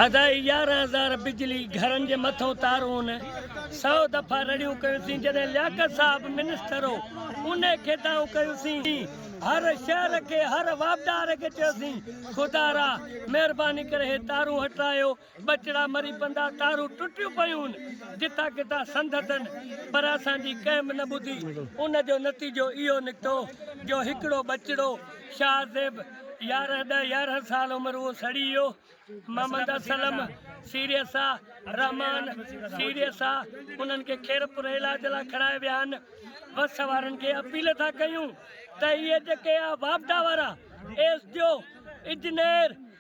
اڍائي يارهن هزار بجلي گهرن جي مٿئون تارون سؤ دفعا رڙيون ڪيوسين جڏهن لياقت صاحب منسٽر هو انهي کي دانهون ڪيوسين هر شهر کي هر واپڊار کي چيوسين خدارا مهرباني ڪري هي تارون هٽرايو ٻچڙا مري پندا، تارون ٽٽيون پيون، جتان ڪتان سنڌ اٿن، پر اسان جي ڪنهن به نه ٻڌي. ان جو نتيجو اهو نڪتو جو هڪڙو ٻچڙو شاهه زيب يارهن ڏهه يارهن سال عمر اهو سڙي ويو. محمد اسلم سيريسا، رحمان سيريسا انهن کي خيرپور علاج لاء کڻائي ويا آهن. وس وارن کي اپيل ٿا ڪيون ته اهي جيڪي اها واپڊا وارا ايس ڊي او، انجنيئر،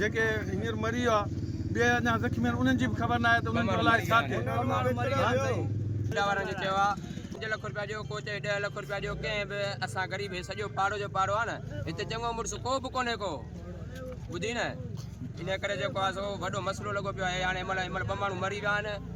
جيڪي هينئر مري ويا ٻيا اڃا زخمي آهن انهن جي به خبر ناهي ته انهن جو الاء ڇا ٿئي. اڏا وارن کي چيو آ پنج لک روپيا ڏيو ڪو چئي ڏهه لک روپيا ڏيو ڪنهن به اسان غريب هي سڄو پاڙو جو پاڙو آ نه هتي چڱو مڙس ڪو به ڪونهي ڪو ٻڌي نه انهي ڪري جيڪو آ سو وڏو مسئلو لڳو پيو آ هي هاڻي هن مهل هن مهل ٻه ماڻهو مري ويا آهن